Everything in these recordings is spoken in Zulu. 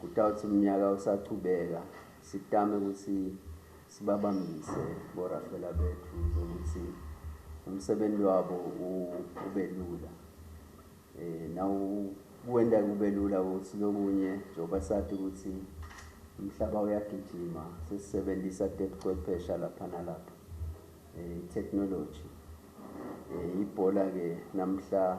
Kutawuthi umnyaka usachubeka sitame ukuthi sibabambise borafela bethu zokuthi umsebenzi wabo ube lula um nawuwenda kube lula ukuthi lokunye njengoba sathi ukuthi umhlaba uyagijima sesisebenzisa tebuchwephesha lapha nalapha um eh, i-technology um eh, ibhola-ke namhla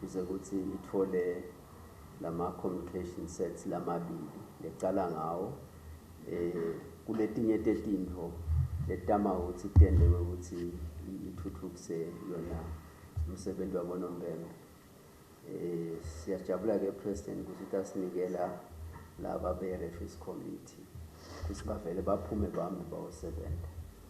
kuze kuthi ithole lama communication sets lamabili lecala ngawo eh kuletinye tetinto letama ukuthi tende ukuthi ithuthukise yona umsebenzi wabonompempe eh siyajabula ke president ukuthi utasinikela laba be reference committee kusibavele baphume bami bawosebenza